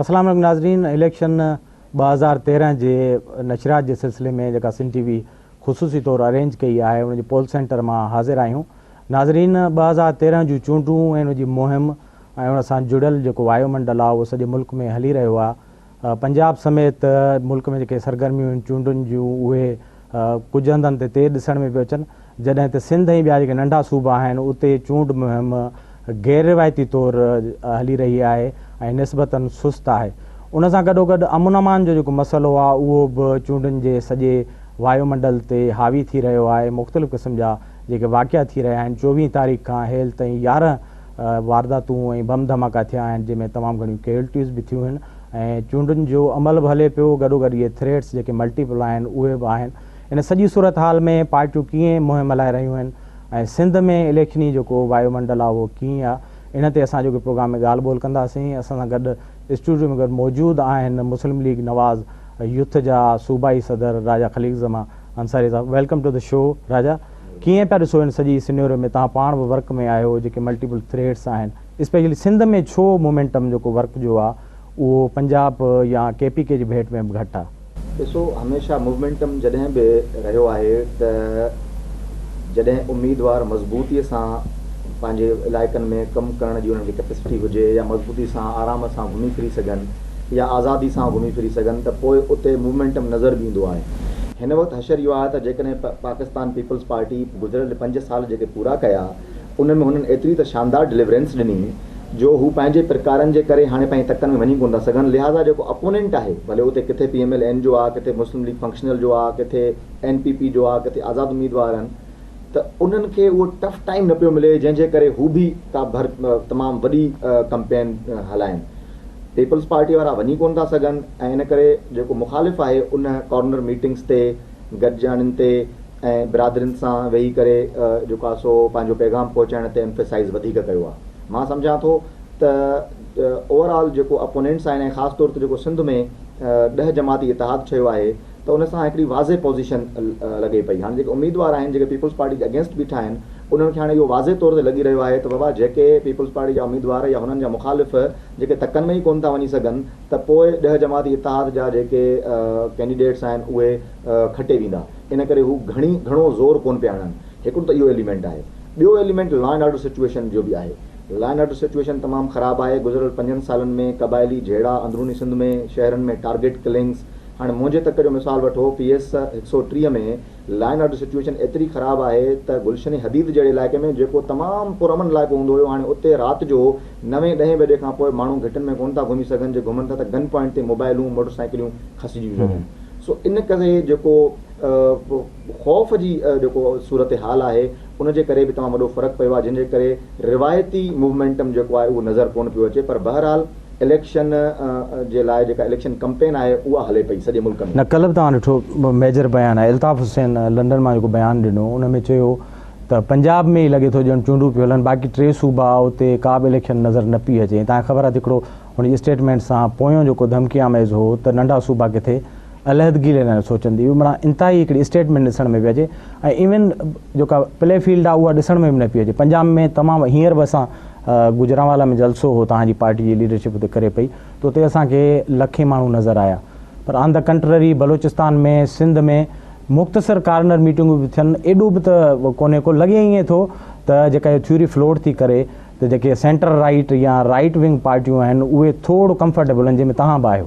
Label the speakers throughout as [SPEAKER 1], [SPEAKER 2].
[SPEAKER 1] اسلام عليڪم ناظرين اليڪشن ٻه هزار تيرهن جي نشريات جي سلسلي ۾ جيڪا سن ٽي وي خصوصي طور ارينج ڪئي آهي ان جي پول سينٽر مان حاضر آهيون ناظرين ٻه هزار تيرهن جون چونڊون ۽ ان جي مهم ۽ ان سان جڙيل جيڪو وايو منڊل آهي اهو سڄي ملڪ ۾ هلي رهيو آهي پنجاب سميت ملڪ ۾ جيڪي سرگرميون آهن چونڊن جون اهي ڪجهه هنڌن تي تيز ڏسڻ ۾ پيو اچن جڏهن ته سنڌ ۽ ٻيا جيڪي ننڍا صوبا آهن اتي چونڊ مهم غير روايتي طور هلي رهي آهي ۽ نسبتا سست آهي ان سان گڏوگڏ امن امان جو جيڪو مسئلو آهي اهو به چونڊن جي سڄي وايو منڊل تي حاوي ٿي رهيو آهي مختلف قسم جا جيڪي واقعا ٿي رهيا آهن چوويهه تاريخ کان هيل تائين يارهن وارداتون ۽ بم ڌماڪا ٿيا آهن جنهن ۾ تمام گهڻيون ڪيولٽيز به ٿيون آهن ۽ چونڊن جو عمل به هلي پيو گڏوگڏ اهي ٿريٽس جيڪي ملٽي پل آهن اهي به آهن ان سڄي صورتحال ۾ پارٽيون ڪيئن مهم هلائي رهيون آهن ۽ سنڌ ۾ اليڪشني جيڪو وايو منڊل آهي اهو ڪيئن آهي ان تي اسان جيڪي پروگرام ۾ ڳالهه ٻولهه ڪنداسين اسان سان گڏ اسٽوڊيو ۾ گڏ موجود آهن مسلم ليگ نواز يوٿ جا صوبائي صدر Raja Khaliq Zaman Ansari sahib welcome to the show Raja. ڪيئن پيا ڏسو هن سڄي سنيورو ۾ توهان پاڻ به ورڪ ۾ آهيو جيڪي ملٽيپل ٿريڊس آهن اسپيشلي سنڌ ۾ ڇو مومينٽم جيڪو ورڪ جو آ اهو پنجاب يا ڪي پي ڪي جي ڀيٽ ۾ به گهٽ آ. ڏسو هميشه
[SPEAKER 2] مومينٽم جڏهن به رهيو آهي ته جڏهن اميدوار مضبوطي سان پنهنجي علائقن ۾ ڪم ڪرڻ جي انهن کي ڪيپسٽي هجي يا مضبوطي سان آرام سان گهمي ڦري سگهن. يا آزادي سان گهمي ڦري سگهن ته پوء اتي موومينٽم نظر به ايندو آهي. هن وقت حشر اهو آهي ته جيڪڏهن پ پاڪستان پيپلز پارٽي گذريل پنج سال جيڪي پورا ڪيا ان ۾ هنن ايتري ته شاندار ڊليورينس ڏني جو هو پنهنجي پرڪارن جي ڪري هاڻي پنهنجي تڪن ۾ وڃي ڪونه ٿا سگهن لهٰذا جيڪو اپونينٽ آهي ڀلي اتي ڪٿي پي ايم ايل اين جو آهي ڪٿي مسلم ليگ فنڪشنل جو آهي ڪٿي اين پي پي جو آهي ڪٿي آزاد اميدوار آهن ته انهن کي اهو ٽف ٽائيم نه پيو ملي جنهن جي ڪري هو به ڪا ڀر تمام وڏي ڪمپين هلائين. پيپلز پارٽي وارا وڃي ڪونه ٿا سگهن ۽ ان ڪري جيڪو مخالف آهي ان ڪارنر ميٽنگز تي گڏجاڻين تي ۽ برادرين سان ويهي ڪري جيڪو آهي سو پنهنجو پيغام پهچائڻ تي ايمفيسائيز وڌيڪ ڪيو آهي. مان سمجهان ٿو ته اوور آل جيڪو اپونينٽس آهن ۽ خاص طور تي جيڪو سنڌ ۾ ڏهه جماعتي اتحاد ٺهيو آهي ته ان سان هڪڙي واضح پوزيشن لڳي پئي. هاڻي جيڪي اميدوار آهن جيڪي پيپلز پارٽي جي اگينسٽ بيٺا آهن انهن کي هاڻي اهو واضح طور تي لڳي رهيو آهي ته بابا جيڪي پيپلز پارٽي جا اميدوار يا هنن جا مخالف جيڪي تڪن ۾ ئي ڪونه ٿا وڃي سگهن ته پوء ڏهه جماعتي اتحاد جا جيڪي ڪينڊيڊيٽس آهن اهي کٽي ويندا ان ڪري هو گهڻي گهڻو زور ڪونه پيا هڻن هڪڙو ته اهو ايليمينٽ آهي ٻيو element law and order situation جو به آهي لا اينڊ آرڊر سچوئيشن تمام خراب آهي گذريل پنجن سالن ۾ قبائلي جهيڙا اندروني سنڌ ۾ شهرن ۾ ٽارگيٽ ڪلنگز هاڻي منهنجي تڪ جو مثال وٺو، پي ايس هڪ سؤ ٽيهه ۾ لا اينڊ آرڊر سچوئيشن ايتري خراب آهي ته گلشن حديد جهڙي علائقي ۾ جيڪو تمام پرامن علائقو هوندو هيو هاڻي اتي رات جو نوين ڏهين بجي کان پوء ماڻهو گهٽن ۾ ڪونه ٿا گهمي سگهن جي گهمن ٿا ته گن پوائنٽ تي موبائلون موٽر سائيڪليون کسجيون سگهن سو ان ڪري جيڪو خوف جي جيڪو صورت حال آهي ان جي ڪري به تمام وڏو فرق پيو آهي جنهن جي ڪري روايتي موومينٽم جيڪو آهي اهو نظر ڪونه پيو اچي پر بهرحال اليڪشن جي لاء جيڪا اليڪشن ڪمپين آهي اها هلي پئي سڄي ملڪ ۾. نه ڪلهه به توهان ڏٺو
[SPEAKER 1] ميجر بيان آهي الطاف حسين لنڊن مان جيڪو بيان ڏنو ان ۾ چيو ته پنجاب ۾ ئي لڳي ٿو ڄڻ چونڊون پيون هلن باقي ٽي صوبا اتي ڪا به اليڪشن نظر نه پئي اچي ۽ توهان کي خبر آهي ته هڪڙو هن جي اسٽيٽمينٽ سان پويون جيڪو ڌمڪي آميز هو ته ننڍا صوبا ڪٿي علحدگي لي نه سوچن ٿي مڙا انتهائي هڪڙي اسٽيٽمينٽ ڏسڻ ۾ پئي اچي ۽ ايون جيڪا پلي فيلڊ آهي اها ڏسڻ ۾ به نه پئي اچي پنجاب ۾ تمام هينئر به اسان گجرانوالا ۾ جلسو هو تان جي پارٽي جي ليڊرشپ اتي ڪري پئي ته اتي اسان کي لکين ماڻهو نظر آيا پر آن دا ڪنٽرري بلوچستان ۾ سنڌ ۾ مختصر ڪارنر ميٽنگون به ٿين ايڏو به ته ڪونهي ڪو لڳي ائين ٿو ته جيڪا اهي ٿيوري فلوٽ ٿي ڪري ته جيڪي سينٽر رائيٽ يا رائيٽ ونگ پارٽيون آهن اهي ٿورو ڪمفرٽيبل آهن جنهن ۾ تهان به آهيو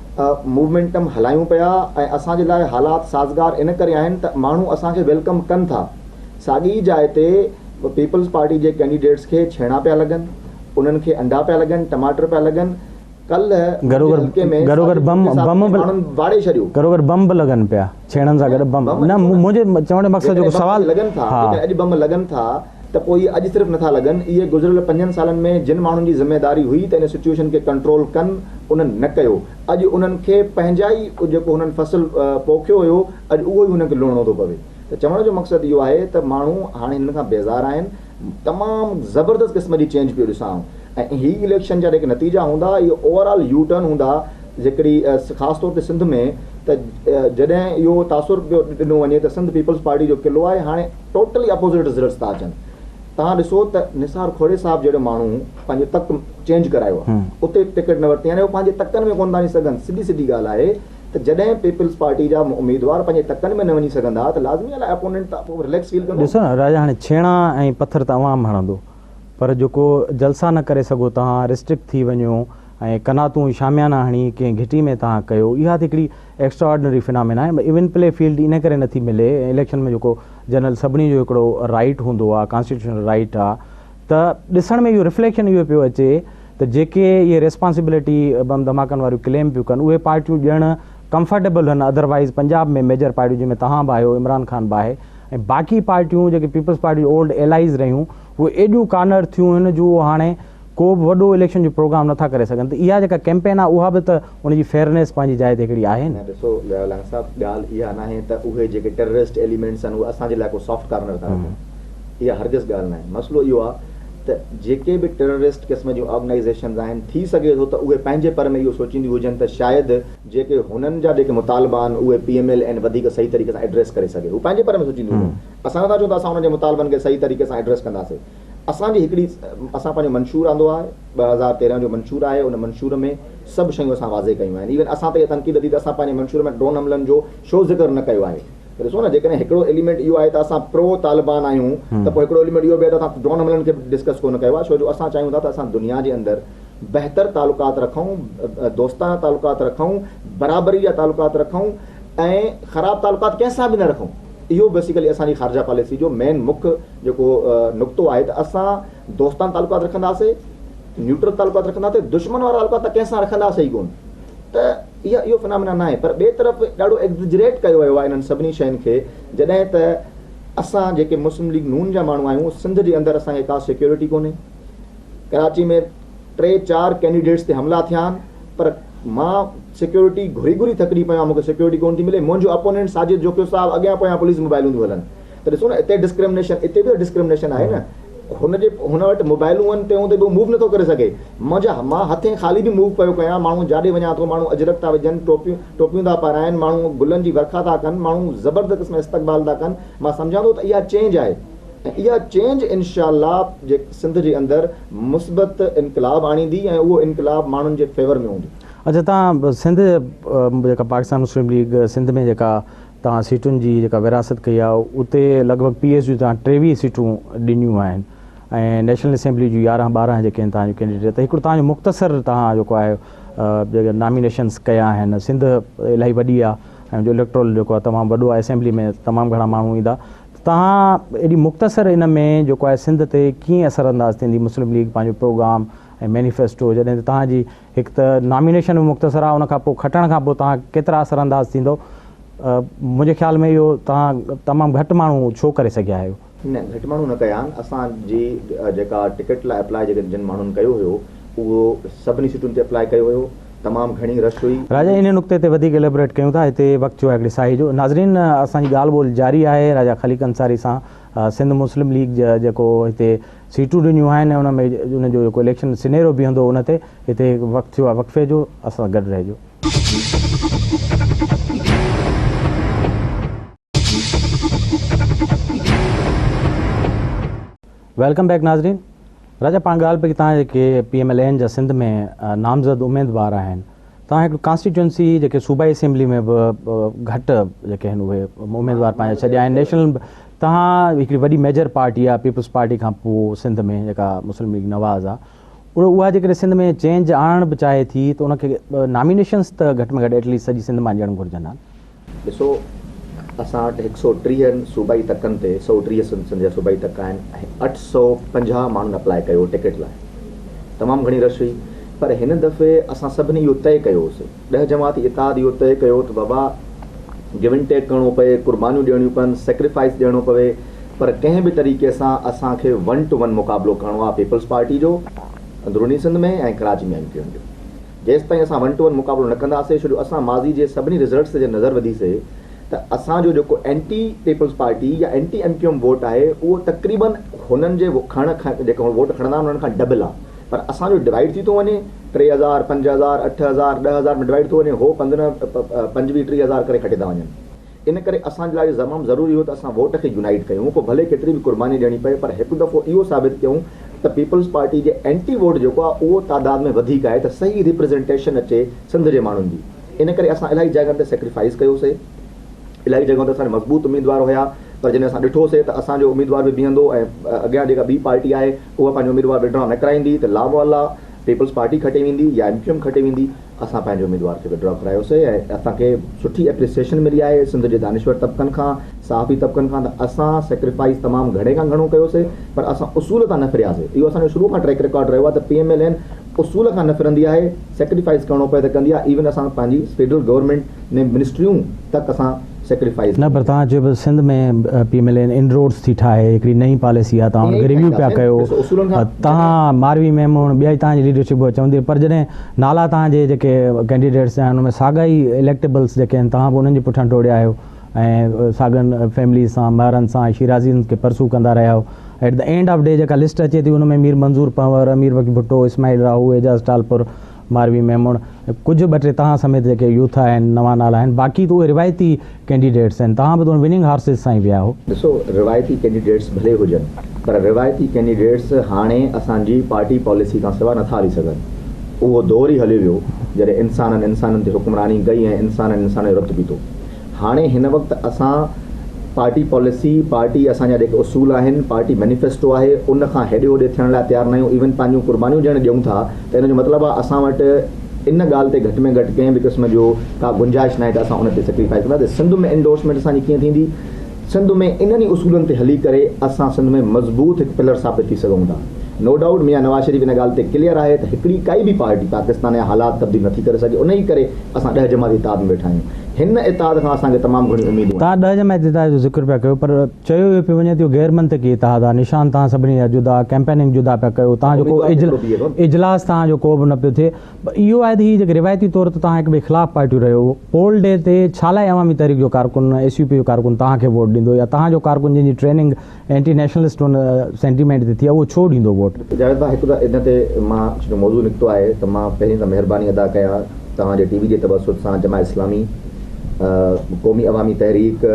[SPEAKER 2] موومينٽم هلايون پيا ۽ اسان جي لاء حالات سازگار ان ڪري آهن ته ماڻهو اسان کي ويلڪم ڪن ٿا ساڳي ئي جاء تي پيپلز پارٽي جي ڪينڊيڊيٽس کي ڇيڻا پيا لڳن انهن کي انڊا پيا لڳن ٽماٽر پيا لڳن ڪلهه منهنجي حلقي ۾ ساڳي ڇوڪري
[SPEAKER 1] سان ماڻهن واڙي
[SPEAKER 2] ڇڏيو. گهرو گهر بمب لڳن
[SPEAKER 1] پيا. ڇيڻن سان گڏ بم نه منهنجي چوڻ جو مقصد
[SPEAKER 2] جو
[SPEAKER 1] سوال لڳن
[SPEAKER 2] ٿا
[SPEAKER 1] جيڪڏهن اڄ
[SPEAKER 2] بم
[SPEAKER 1] لڳن ٿا ته
[SPEAKER 2] پوء اهي اڄ صرف نٿا لڳن اهي گذريل پنجن سالن ۾ جن ماڻهن جي ذميواري هئي ته ان سچوئيشن کي ڪنٽرول ڪن انهن نه ڪيو اڄ انهن کي پنهنجا ئي جيڪو هنن فصل پوکيو هيو اڄ اهو ئي هنن کي لڻڻو ٿو پوي ته چوڻ جو مقصد اهو آهي ته ماڻهو هاڻي هنن کان بيزار آهن تمام زبردست قسم جي چينج پيو ڏسان آئون ۽ هي اليڪشن جا جيڪي نتيجا هوندا اهي اوور آل يو ٽرن هوندا جيڪڏهن خاص طور تي سنڌ ۾ ته جڏهن اهو تاثر پيو ڏنو وڃي ته سنڌ پيپلز پارٽي جو قلعو آهي هاڻي ٽوٽلي اپوزٽ رزلٽس ٿا اچن توهان ڏسو ته نثار کهڙي صاحب جهڙو ماڻهو پنهنجو تڪ چينج ڪرايو آهي اتي ٽڪيٽ نه ورتي يعني هو پنهنجي تڪن ۾ ڪونه ٿا وڃي سگهن سڌي سڌي ڳالهه آهي ته جڏهن پيپلز پارٽي جا اميدوار پنهنجي تڪن ۾ نه وڃي سگهندا ته لازمي آهي اپوننٽ ته پوء رليڪس فيل ڪندو. ڏسو نه راجا هاڻي ڇيڻا
[SPEAKER 1] ۽ پٿر ته عوام هڻندو پر جيڪو جلسا نه ڪري سگهو تهان رسٽرڪٽ ٿي وڃو ۽ قناتون شاميانا هڻي ڪنهن گهٽي ۾ تهان ڪيو اها ته هڪڙي ايڪسٽرا آرڊنري فنامينا آهي ايون پلي فيلڊ ان ڪري نٿي ملي ۽ اليڪشن ۾ جيڪو جنرل سڀني جو هڪڙو رائيٽ هوندو آهي ڪانسٽيٽيوشنل رائيٽ آهي ته ڏسڻ ۾ اهو رفليڪشن اهو پيو اچي ته جيڪي اهي ريسپانسبلٽي بم ڌماڪن واريون ڪليم پيون ڪن اهي پارٽيون ڄڻ ڪمفرٽيبل هن ادروائز پنجاب ۾ ميجر پارٽيون جنهن ۾ تهان به آهيو عمران خان به آهي ۽ باقي پارٽيون جيڪي پيپلز پارٽي جون اولڊ ايلائيز رهيون اهي ايڏيون ڪارنر ٿيون آهن جو هاڻي ڪو به وڏو اليڪشن جو پروگرام نٿا ڪري سگهن ته اها جيڪا ڪيمپين آهي اها به ته ان جي فيئرنيس پنهنجي جاء تي هڪڙي آهي نه. ڏسو ضياء لانگ صاحب
[SPEAKER 2] ڳالهه اها ناهي ته اهي جيڪي ٽيررسٽ ايليمينٽس آهن اهي اسان جي لاء ڪو سافٽ ڪارنر ٿا رکن اها هرگز ڳالهه ناهي مسئلو اهو آهي ته جيڪي به ٽيررسٽ قسم جون آرگنائيزيشنز آهن ٿي سگهي ٿو ته اهي پنهنجي پر ۾ اهو سوچينديون هجن ته شايد جيڪي هنن جا جيڪي مطالبا آهن اهي پي ايم ايل اين وڌيڪ صحيح طريقي سان ايڊريس ڪري سگهي هو پنهنجي پر ۾ سوچينديون هجن اسان نٿا چئون ته اسان هنن جي مطالبن کي صحيح طريقي سان ايڊريس ڪنداسين اسان جي هڪڙي اسان پنهنجو منشور آندو آهي ٻه هزار تيرنهن جو منشور آهي ان منشور ۾ سڀ شيون اسان واضح ڪيون آهن ايون اسان تي تنقيد ٿي ته اسان پنهنجي منشور ۾ ڊرون حملن جو شو ذڪر نه ڪيو آهي ته ڏسو نه جيڪڏهن هڪڙو ايليمينٽ اهو آهي ته اسان پرو طالبان آهيون ته پوء هڪڙو ايليمينٽ اهو به آهي ته اسان ڊرون حملن کي به ڊسڪس ڪونه ڪيو آهي ڇو جو اسان چاهيون ٿا ته اسان دنيا جي اندر بهتر تعلقات رکون دوستانه تعلقات رکون برابري جا تعلقات رکون ۽ خراب تعلقات ڪنهن سان به نه رکون اهو بيسيڪلي اسان جي خارجه پاليسي جو مين مک جيڪو نقطو آهي ته اسان دوستانه تعلقات رکنداسي، نيوٽرل تعلقات رکنداسي، دشمن وارا تعلقات ته ڪنهن سان رکنداسي ئي ڪونه ته اها اهو فنامينا ناهي پر ٻئي طرف ڏاڍو ايگزجريٽ ڪيو ويو آهي انهن سڀني شين کي جڏهن ته اسان جيڪي مسلم ليگ نون جا ماڻهو آهيون سنڌ جي اندر اسان کي ڪا سيڪيورٽي ڪونهي ڪراچي ۾ ٽي چار ڪينڊيڊيٽس تي حملا ٿيا آهن پر مان سيڪيورٽي گهري گهري ٿڪجي پيو آهيان مون کي سيڪيورٽي ڪونه ٿي ملي منهنجو اپونينٽ ساجد جوکيو صاحب اڳيان پويان پوليس موبائيلون ٿيون هلن ته ڏسو نه اتي ڊسڪرمنيشن اتي به ڊسڪرمنيشن آهي نه هن جي هن وٽ موبائلون آهن تنهن هوندي به موو نٿو ڪري سگهي منهنجا مان هٿين خالي به موو پيو ڪيان ماڻهو جاڏي وڃان ٿو ماڻهو اجرڪ ٿا وجهن ٽوپيون ٽوپيون ٿا پارائن ماڻهو گلن جي ورکا ٿا ڪن ماڻهو زبردست قسم استقبال ٿا ڪن مان سمجهان ٿو ته اها چينج آهي ۽ اها چينج انشاء الله جي سنڌ جي اندر مثبت انقلاب آڻيندي ۽ اهو انقلاب ماڻهن جي فيور ۾ هوندو اچا تان
[SPEAKER 1] سنڌ جيڪا پاڪستان مسلم ليگ سنڌ ۾ جيڪا تان سيٽن جي جيڪا ورهاست ڪئي آهي اتي لڳ ڀڳ پي ايس جي تان ٽيويهه سيٽون ڏنيون آهن ۽ نيشنل اسيمبلي جون يارهن ٻارهن جيڪي آهن تان جو ڪينڊيڊيٽ ته هڪڙو تان جو مختصر تان جيڪو آهي جيڪي نامينيشنس ڪيا آهن سنڌ الاهي وڏي آهي ۽ جو اليڪٽرول جيڪو آهي تمام وڏو آهي اسيمبلي ۾ تمام گهڻا ماڻهو ايندا تان ايڏي مختصر ان ۾ جيڪو آهي سنڌ تي ڪيئن اثر انداز ٿيندي مسلم ليگ پنهنجو پروگرام ۽ مينيفيسٽو جڏهن ته تان جي هڪ ته نامينيشن به مختصر آهي ان کان پوء کٽڻ کان پوء توهان ڪيترا اثر انداز ٿيندو منهنجي خيال ۾ اهو توهان تمام گهٽ ماڻهو ڇو ڪري سگهيا آهيو. نه گهٽ ماڻهو نه ڪيا
[SPEAKER 2] آهن اسان جي جيڪا ٽڪيٽ لاء اپلاء جيڪي جن ماڻهن ڪيو هيو اهو سڀني سيٽن تي اپلاء ڪيو هيو تمام گهڻي رش هئي. راجا انهي نقطي تي وڌيڪ
[SPEAKER 1] اليبريٽ ڪيون ٿا هتي وقت جو آهي هڪڙي ساهي جو. ناظرين اسان جي ڳالهه ٻولهه جاري آهي راجا خليق انصاري سان. سنڌ مسلم ليگ جا جيڪو هتي سيٽون ڏنيون آهن ۽ ان ۾ ان جو جيڪو اليڪشن سنيرو بيهندو ان تي هتي هڪ وقت ٿيو آهي وقفي جو اسان سان گڏ رهجو. ويلڪم بيڪ ناظرين راجا پاڻ ڳالهه پئي ڪي تان جيڪي پي ايم ايل اين جا سنڌ ۾ نامزد اميدوار آهن توهان هڪ ڪانسٽيٽوئنسي جيڪي صوبائي اسيمبلي ۾ به گهٽ جيڪي آهن اهي اميدوار پنهنجا ڇڏيا آهن نيشنل توهان هڪڙي وڏي ميجر پارٽي آهي پيپلز پارٽي کان پوء سنڌ ۾ جيڪا مسلم ليگ نواز آهي اها جيڪڏهن سنڌ ۾ چينج آڻڻ به چاهي ٿي ته ان کي نامينيشنس ته گهٽ ۾ گهٽ ايٽليسٽ سڄي سنڌ مان ڏيڻ گهرجن ها ڏسو
[SPEAKER 2] اسان وٽ هڪ سؤ ٽيهه صوبائي تڪن تي سؤ ٽيهه سنڌ جا صوبائي تڪ آهن ۽ اٺ سؤ پنجاهه ماڻهن اپلاء ڪيو ٽڪيٽ لاء تمام گهڻي رش هئي پر هن دفعي اسان سڀني اهو طئي ڪيو هوسي ڏهه جماعتي اتحاد اهو طئي ڪيو ته بابا گيو ان ٽيڪ ڪرڻو پوي قربانيون ڏيڻيون پون سيڪريفائيس ڏيڻو پوي پر ڪنهن به طريقي سان اسان کي ون ٽو ون مقابلو ڪرڻو آهي پيپلز پارٽي جو اندروني Sindh ۾ ۽ Karachi ۾ M Q M جو. جيستائين اسان ون ٽو ون مقابلو نه ڪنداسي شو جو اسان ماضي جي سڀني رزلٽس تي نظر وڌيسي ته اسان جو جيڪو اينٽي پيپلز پارٽي يا anti M Q M vote آهي اهو تقريبن هنن جي کڻڻ کان جيڪا هو ووٽ کڻندا آهن انهن کان ڊبل آهي پر اسان جو ڊوائيڊ ٿي ٿو وڃي ٽي هزار پنج هزار اٺ هزار ڏهه هزار ۾ ڊوائيڊ ٿو وڃي هو پندرهن پنجويهه ٽيهه هزار ڪري کٽي ٿا وڃن. ان ڪري اسان جي لاء اهو تمام ضروري هو ته اسان ووٽ کي يونائيٽ ڪيون پوء ڀلي ڪيتري به قرباني ڏيڻي پئي پر هڪ دفعو اهو ثابت ڪيون ته پيپلز پارٽي جي اينٽي ووٽ جيڪو آهي اهو تعداد ۾ وڌيڪ آهي ته صحيح ريپريزنٽيشن اچي سنڌ جي ماڻهن جي ان ڪري اسان الاهي جاڳن تي سيڪريفائيز ڪيو سي الاهي جڳهن تي اسان جا مضبوط اميدوار هيا پر جڏهن اسان ڏٺو سي ته اسان جو اميدوار به بيهندو ۽ اڳيان جيڪا ٻي پارٽي آهي اها پنهنجو اميدوار وڊرا نه ڪرائيندي ته لامعلا پيپلز پارٽي کٽي ويندي يا ايم ڪيو ايم کٽي ويندي اسان پنهنجي اميدوار کي وڊرا ڪرايو سي ۽ اسان کي سٺي اپريسيشن ملي آهي سنڌ جي دانشور طبقن کان صحافي طبقن کان ته اسان سيڪريفائيز تمام گهڻي کان گهڻو ڪيو سي پر اسان اصول تان نه ڦريا سي اهو اسان جو شروع کان ٽريڪ رڪارڊ رهيو آهي ته پي ايم ايل اين اصول کان نه ڦرندي آهي سيڪريفائيز ڪرڻو پئي ته ڪندي آهي ايون اسان پنهنجي فيڊرل گورنمينٽ ۾ منسٽريون تڪ اسان نه پر توهان چيو پيا
[SPEAKER 1] Sindh ۾ P M L N inroads ٿي ٺاهي هڪڙي نئين پاليسي آهي توهان ان کي ريويو پيا ڪيو توهان ماروي ميم هون ٻيا توهان جي ليڊرشپ اها چوندي پر جڏهن نالا توهان جي جيڪي ڪينڊيڊيٽس آهن ان ۾ ساڳا ئي اليڪٽيبلس جيڪي آهن توهان به انهن جي پٺيان ڊوڙيا آهيو ۽ ساڳن فيمليز سان مهرن سان شيرازين کي پرسو ڪندا رهيا آهيو at the end of the جيڪا لسٽ اچي ٿي ان ۾ مير منظور پنور امير وڪي ڀٽو اسماعيل راهو اعجاز ٽالپر ماروي ميمڻ ڪجهه ٻه ٽي توهان سميت جيڪي يوٿ آهن نوان نالا آهن باقي ته اهي روايتي ڪينڊيڊيٽس آهن توهان به تون وننگ هارسز سان ئي ويا آهو. ڏسو روايتي
[SPEAKER 2] ڪينڊيڊيٽس ڀلي هجن پر روايتي ڪينڊيڊيٽس هاڻي اسان جي پارٽي پاليسي کان سواء نٿا هلي سگهن اهو دور ئي هليو ويو جڏهن انسانن انسانن تي حڪمراني ڪئي ۽ انسانن انسانن جو رت پيتو هاڻي هن وقت اسان پارٽي پاليسي، پارٽي اسان جا جيڪي اصول آهن، پارٽي مينيفيسٽو آهي ان کان هيڏي هوڏي ٿيڻ لاء تيار نه آهيون ايون پنهنجون قربانيون جڏهن ڏيون ٿا ته ان جو مطلب آهي اسان وٽ ان ڳالهه تي گهٽ ۾ گهٽ ڪنهن به قسم جو ڪا گنجائش ناهي ته اسان ان تي سيڪريفائز ڪنداسين سنڌ ۾ انڊورسمينٽ اسان جي ڪيئن ٿيندي؟ سنڌ ۾ انهن ئي اصولن تي هلي ڪري اسان سنڌ ۾ مضبوط هڪ پلر ثابت ٿي سگهون ٿا. نو ڊائوٽ ميان نواز شريف ان ڳالهه تي ڪليئر آهي ته هڪڙي ڪائي به پارٽي پاڪستان جا حالات تبديل نٿي ڪري سگهي انهي ڪري اسان ڏهه جماعتي اتحاد ۾ ويٺا آهيون. هن اتحاد کان اسان کي تمام گهڻيون اميدون آهن. توهان ڏهه جماعتي اتحاد جو
[SPEAKER 1] ذڪر پيا ڪيو پر چيو اهو پيو وڃي ته اهو غير منطقي اتحاد آهي نشان توهان سڀني جا جدا، ڪيمپيننگ جدا پيا ڪيو، توهان جو ڪو اجلاس توهان جو ڪو به نه پيو ٿئي. ٻه اهو آهي ته هي جيڪي روايتي طور ته توهان هڪٻئي خلاف پارٽيون رهيو هئو، پول ڊي تي ڇا لاء عوامي تحريڪ جو ڪارڪن، ايس يو پي جو ڪارڪن توهان کي ووٽ ڏيندو يا توهان جو ڪارڪن جنهن جي ٽريننگ اينٽي نيشنلسٽ ان سينٽيمينٽ تي ٿي آهي اهو ڇو ڏيندو ووٽ؟ جاويد ڀاء هڪ ته ان
[SPEAKER 2] تي مان چونڪه موضوع نڪتو آهي ته مان پهرين ته مهرباني ادا ڪيا توهان جي ٽي وي جي تبسط سان Jamaat Islami, Qaumi Awami Tehreek,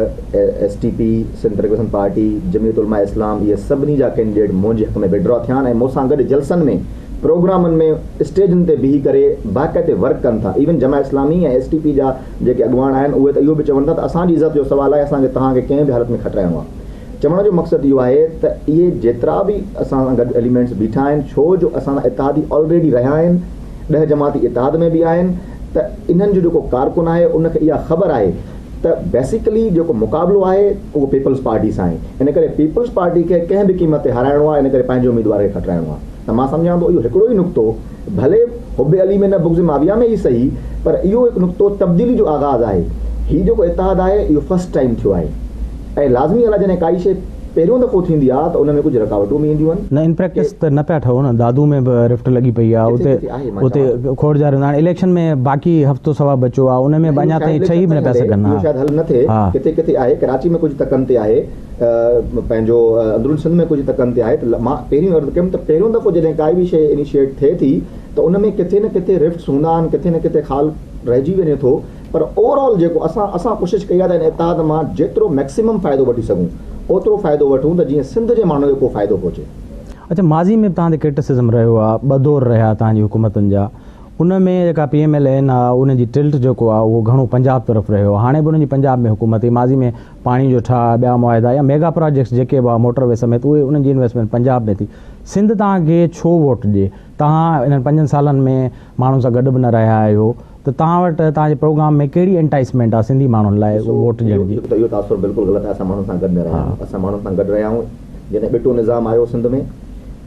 [SPEAKER 2] S T P, Sindh پرگريسن party, Jamiat Ulema Islam اهي سڀني جا ڪينڊيڊيٽ منهنجي حق ۾ وڊرا ٿيا آهن ۽ مون سان گڏ جلسن ۾ پروگرامن ۾ اسٽيجن تي بيهي ڪري باقاعدي ورڪ ڪن ٿا ايون Jamaat Islami ۽ S T P جا جيڪي اڳواڻ آهن اهي ته اهو به چون ٿا ته اسان جي عزت جو سوال آهي اسان کي توهان کي ڪنهن به حالت ۾ کٽرائڻو آهي چوڻ جو مقصد اهو آهي ته اهي جيترا به اسان سان گڏ اليمينٽس بيٺا آهن ڇو جو اسان سان اتحادي آلريڊي رهيا آهن ڏهه جماعتي اتحاد ۾ به آهن ته انهن جو جيڪو ڪارڪن آهي ان کي اها خبر آهي ته بيسيڪلي جيڪو مقابلو آهي اهو پيپلز پارٽي سان آهي ان ڪري پيپلز پارٽي کي ڪنهن به قيمت تي هارائڻو آهي ان ڪري پنهنجي اميدوار کي کٽرائڻو آهي ته مان سمجهان ٿو اهو هڪڙو ئي نقطو ڀلي حب علي ۾ نه بغض معاويه ۾ ئي سهي پر اهو هڪ نقطو تبديلي جو آغاز آهي هي جيڪو اتحاد آهي اهو فرسٽ ٽائيم ٿيو آهي ۽ لازمي ڳالهه آهي جڏهن ڪائي شيء پهريون دفعو ٿيندي آ ته ان ۾ ڪجهه رڪاوٽون به اينديون آهن. نه ان پريڪٽس ته نه پيا
[SPEAKER 1] ٺهو نه دادو ۾ به رفٽ لڳي پئي آ اتي اتي کوڙ جاريون هاڻي اليڪشن ۾ باقي هفتو سوا بچو آ ان ۾ به اڃا تائين ٺهي به نه پيا سگهن اهو شايد حل نه ٿئي
[SPEAKER 2] ڪٿي ڪٿي آهي ڪراچي ۾ ڪجهه تڪن تي آهي پنهنجو اندرون سنڌ ۾ ڪجهه تڪن تي آهي ته مان پهريون عرض ڪيم ته پهريون دفعو جڏهن ڪائي به شيء انيشيٽ ٿئي ٿي ته ان ۾ ڪٿي نه ڪٿي رفٽس هوندا آهن ڪٿي نه ڪٿي خال رهجي وڃي ٿو پر اوور آل جيڪو اسان اسان ڪوشش ڪئي آهي ته ان اتحاد مان جيترو ميڪسيمم فائدو وٺي سگهون اوترو فائدو وٺون ته جيئن سنڌ جي ماڻهو کي ڪو فائدو پهچي. اڇا ماضي ۾ به توهان تي ڪرٽسزم رهيو آهي ٻه دور رهيا توهان جي حڪومتن جا ان ۾ جيڪا پي ايم ايل اين آهي ان جي ٽلٽ جيڪو آهي اهو گهڻو پنجاب طرف رهيو هاڻي به انهن جي پنجاب ۾ حڪومت هئي ماضي ۾ پاڻي جو ٺاهه ٻيا معاهدا يا ميگا پراجيڪٽس جيڪي به هئا موٽر وي سميت اهي انهن جي انويسٽمينٽ پنجاب ۾ ٿي سنڌ توهان کي ڇو ووٽ ڏي. توهان انهن پنجن سالن ۾ ماڻهن سان گڏ به نه رهيا آهيو ته توهان وٽ توهان جي پروگرام ۾ ڪهڙي انٽائيسمينٽ آهي سنڌي ماڻهن لاء ووٽ ڏيڻ جي؟ ڏسو هڪ ته اهو تاثر بلڪل غلط آهي اسان ماڻهن سان گڏ نه رهيا آهيون اسان ماڻهن سان گڏ رهيا آهيون جڏهن ٻٽو نظام آيو سنڌ ۾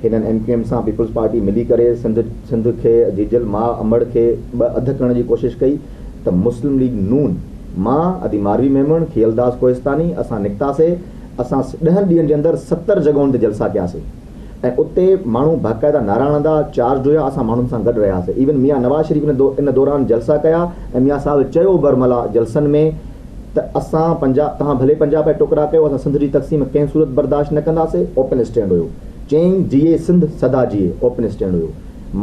[SPEAKER 2] هنن ايم ڪيو ايم سان پيپلز پارٽي ملي ڪري سنڌ سنڌ کي جيجل ماء امڙ کي ٻه اڌ ڪرڻ جي ڪوشش ڪئي ته مسلم ليگ نون مان ادي ماروي ميمڻ کيئلداس ڪوهستاني اسان نڪتاسي اسان ڏهن ڏينهن جي اندر ستر جڳهن تي جلسا ڪياسي. ۽ اتي ماڻهو باقاعده نعرا هڻندا چارج هيا اسان ماڻهن سان گڏ رهياسين ايون ميان نواز شريف ان دوران جلسا ڪيا ۽ ميان صاحب چيو برملا جلسن ۾ ته اسان پنجاب توهان ڀلي پنجاب جا ٽڪرا ڪيو اسان سنڌ جي تقسيم ڪنهن صورت برداشت نه ڪنداسي اوپن اسٽينڊ هيو چين جيئي سنڌ سدا جيئي اوپن اسٽينڊ هيو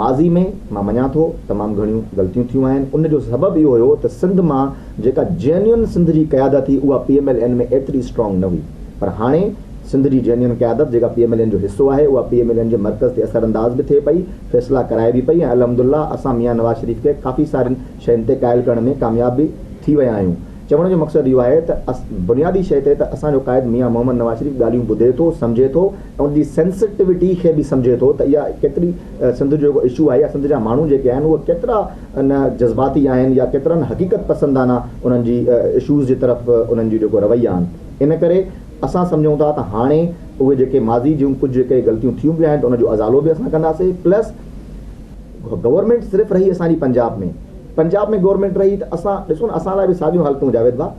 [SPEAKER 2] ماضي ۾ مان مڃان ٿو تمام گهڻيون غلطيون ٿيون آهن ان جو سبب اهو هيو ته سنڌ مان جيڪا جينين سنڌ جي قيادت هئي اها پي ايم ايل اين ۾ ايتري اسٽرانگ نه هئي پر هاڻي سنڌ جي جينين قيادت جيڪا پي ايم ايل اين جو حصو آهي اها پي ايم ايل اين جي مرڪز تي اثر انداز به ٿئي پئي، فيصلا ڪرائي به پئي ۽ الحمدالله اسان ميان نواز شريف کي ڪافي سارين شين تي قائل ڪرڻ ۾ ڪامياب به ٿي ويا آهيون. چوڻ جو مقصد اهو آهي ته بنيادي شيء تي ته اسان جو قائد ميان محمد نواز شريف ڳالهيون ٻڌي ٿو، سمجهي ٿو ۽ ان جي سينسيٽوٽي کي به سمجهي ٿو ته اها ڪيتري سنڌ جو جيڪو اشو آهي يا سنڌ جا ماڻهو جيڪي آهن اهي ڪيترا نه جذباتي آهن يا ڪيترا نه حقيقت پسندانه انهن جي اشوز جي طرف انهن جي جيڪو رويا آهن ان ڪري اسان سمجهون ٿا ته هاڻي اهي جيڪي ماضي جون ڪجهه جيڪي غلطيون ٿيون به آهن ته ان جو ازالو به اسان ڪنداسي پلس گورنمينٽ صرف رهي اسان جي پنجاب ۾ پنجاب ۾ گورنمينٽ رهي ته اسان ڏسو نه اسان لاء به ساڳيون حالتون جاويد ڀا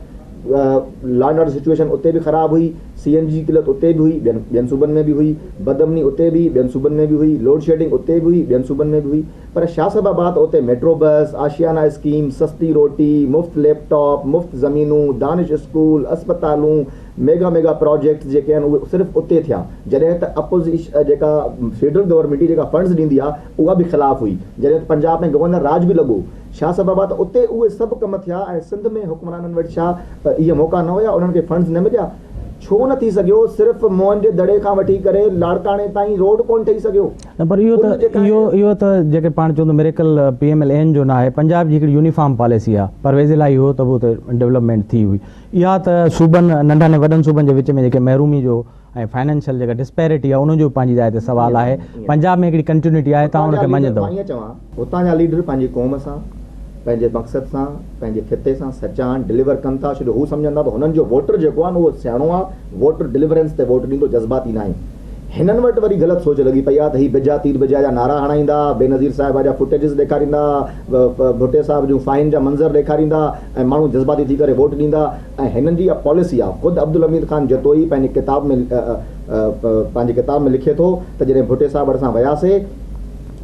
[SPEAKER 2] لا اينڊ آرڊر سچويشن اتي به خراب هئي سي اين جي جي قلت اتي به هئي ٻين ٻين صوبن ۾ به هئي بدامني اتي به هئي ٻين صوبن ۾ به هئي لوڊشيڊنگ اتي به هئي ٻين صوبن ۾ به هئي پر شاهه صاحب آباد اتي ميٽرو بس، آشيانا اسڪيم، سستي روٽي، مفت ليپ ٽاپ، مفت زمينون، دانش اسڪول، اسپتالون، ميگا ميگا پراجيڪٽس جيڪي آهن اهي صرف اتي ٿيا جڏهن ته اپوزيش جيڪا فيڊرل گورنمينٽ هئي جيڪا فنڊز ڏيندي آهي اها به خلاف هئي جڏهن ته پنجاب ۾ گورنر راڄ به لڳو شاهه صاحب آباد اتي اهي سڀ ڪم ٿيا ۽ سنڌ ۾ حڪمرانن وٽ ڇا اهي موقعا نه هيا انهن کي فنڊز نه مليا ڇو نه ٿي سگهيو صرف موهن جي دڙي کان وٺي ڪري لاڙڪاڻي تائين روڊ ڪونه ٺهي سگهيو. نه پر اهو ته
[SPEAKER 1] اهو اهو ته جيڪي پاڻ چون ته miracle P M L N جو ناهي پنجاب جي هڪڙي يونيفارم پاليسي آ پرويز الاهي هو ته به اتي ڊولپمينٽ ٿي هئي اها ته صوبن ننڍن ۽ وڏن صوبن جي وچ ۾ جيڪي محرومي جو ۽ فائنينشل جيڪا ڊسپيرٽي آ ان جو پنهنجي جاء تي سوال آهي پنجاب ۾ هڪڙي ڪنٽيونٽي آهي توهان ان کي مڃيندؤ هتان جا
[SPEAKER 2] ليڊر پنهنجي قوم سان، پنهنجي مقصد سان، پنهنجي خطي سان سچا آهن، ڊليور ڪن ٿا ڇو جو هو سمجهن ٿا ته هنن جو ووٽر جيڪو آهي نه اهو سياڻو آهي، ووٽر ڊليورنس تي ووٽ ڏيندو جذباتي ناهي. هنن وٽ وري غلط سوچ لڳي پئي آهي ته هي بجا تير بجا جا نعرا هڻائيندا، بينظير صاحبه جا فوٽيجز ڏيکاريندا، ڀٽي صاحب جون فائين جا منظر ڏيکاريندا ۽ ماڻهو جذباتي ٿي ڪري ووٽ ڏيندا ۽ هنن جي اها پاليسي آهي. خود عبدالحميد خان جتوئي پنهنجي ڪتاب ۾ پنهنجي ڪتاب ۾ لکي ٿو ته جڏهن ڀٽي صاحب وٽ اسان وياسي،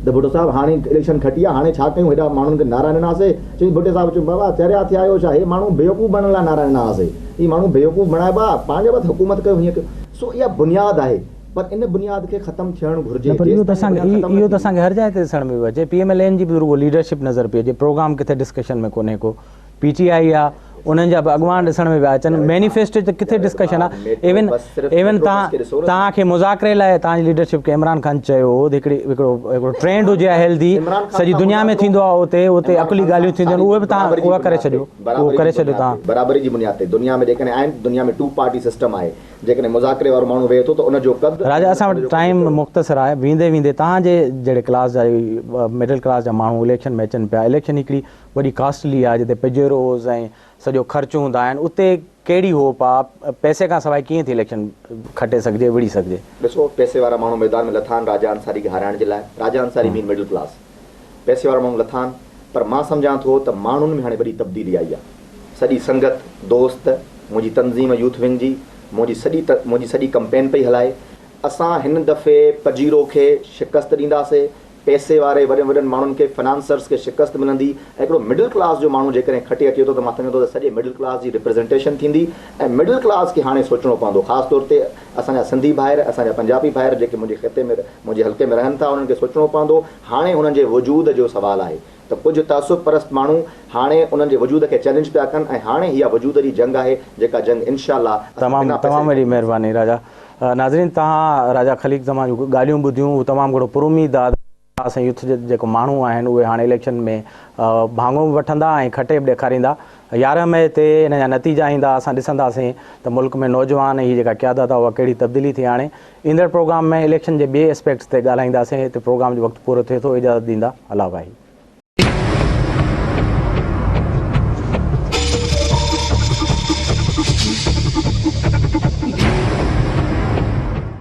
[SPEAKER 2] ته ڀٽو صاحب هاڻي اليڪشن کٽي آ هاڻي ڇا ڪيون هيڏا ماڻهن کي نعرا ڏنا سي چيائين ڀٽي صاحب چيو بابا چريا ٿيا آهيو ڇا هي ماڻهو بيوقوف بڻڻ لاء نعرا ڏنا هئاسي هي ماڻهو بيوقوف بڻائبا پنهنجي وقت حڪومت ڪيو هيئن ڪيو سو اها بنياد آهي پر ان بنياد کي ختم ٿيڻ گهرجي نه پر اهو ته اسان کي اهو
[SPEAKER 1] ته اسان کي هر جاء تي ڏسڻ ۾ پيو اچي پي ايم ايل اين جي به رڳو ليڊرشپ نظر پئي اچي پروگرام ڪٿي ڊسڪشن ۾ ڪونهي ڪو. پي ٽي آئي آ انهن جا به اڳواڻ ڏسڻ ۾ پيا اچن مينيفيسٽو تي ڪٿي ڊسڪشن آ ايون ايون تان تان کي مذاڪري لاء تان جي ليڊرشپ کي عمران خان چيو هو هڪڙي هڪڙو هڪڙو ٽرينڊ هجي آ هيلدي سڄي دنيا ۾ ٿيندو آ اتي اتي عقلي ڳالهيون ٿينديون آهن اهي به تان اهي ڪري ڇڏيو اهو ڪري ڇڏيو تان برابري جي بنياد تي
[SPEAKER 2] دنيا ۾ جيڪڏهن آهن دنيا ۾ ٽو پارٽي سسٽم آهي جيڪڏهن مذاڪري وارو ماڻهو ويهي ٿو ته ان جو قد راجا اسان وٽ ٽائيم
[SPEAKER 1] مختصر آهي ويندي ويندي تان جي جهڙي ڪلاس جا مڊل ڪلاس جا ماڻهو اليڪشن ۾ اچن پيا اليڪشن هڪڙي وڏي ڪاسٽلي آ جتي پجيروز ۽ سڄو خرچ هوندا آهن اتي ڪهڙي هوپ آ پئسي کان سواء ڪيئن ٿي اليڪشن کٽي سگهجي وڙهي سگهجي. ڏسو پئسي وارا
[SPEAKER 2] ماڻهو ميدان ۾ لٿا آهن راجا انصاري کي هارائڻ جي لاء راجا انصاري مين مڊل ڪلاس پئسي وارا ماڻهو لٿا آهن پر مان سمجهان ٿو ته ماڻهن ۾ هاڻي وڏي تبديلي آئي آ سڄي سنگت دوست منهنجي تنظيم يوٿ ونگ جي منهنجي سڄي منهنجي سڄي ڪمپين پئي هلائي اسان هن دفعي پجيرو کي شڪست ڏينداسي پئسي واري وڏن وڏن ماڻهن کي فنانسرز کي شڪست ملندي ۽ هڪڙو مڊل ڪلاس جو ماڻهو جيڪڏهن کٽي اچي ٿو ته مان سمجهان ٿو ته سڄي مڊل ڪلاس جي رپريزنٽيشن ٿيندي ۽ مڊل ڪلاس کي هاڻي سوچڻو پوندو خاص طور تي اسان جا سنڌي ڀائر اسان جا پنجابي ڀائر جيڪي منهنجي خطي ۾ منهنجي حلقي ۾ رهن ٿا انهن کي سوچڻو پوندو هاڻي انهن جي وجود جو سوال آهي ته ڪجهه تعصب پرست ماڻهو هاڻي انهن جي وجود کي چئلينج پيا ڪن ۽ هاڻي اها وجود جي جنگ آهي جيڪا جنگ انشاء الله اسان تمام بنا پئسي تمام جي وڏي ڪنداسين.
[SPEAKER 1] مهرباني راجا. ناظرين توهان راجا خليق زمان جون ڳالهيون ٻڌيون هو تمام گهڻو پراميد آ ته اسان يوٿ جي جيڪو ماڻهو آهن اهي هاڻي اليڪشن ۾ ڀاڱو به وٺندا ۽ کٽي به ڏيکاريندا يارهن مئي تي ان جا نتيجا ايندا اسان ڏسنداسين ته ملڪ ۾ نوجوان ۽ هي جيڪا قيادت آ اها ڪهڙي تبديلي ٿي آڻي ايندڙ پروگرام ۾ اليڪشن جي ٻئي اسپيڪٽس تي ڳالهائينداسين هتي پروگرام جو وقت پورو ٿئي ٿو اجازت ڏيندا الله واحد.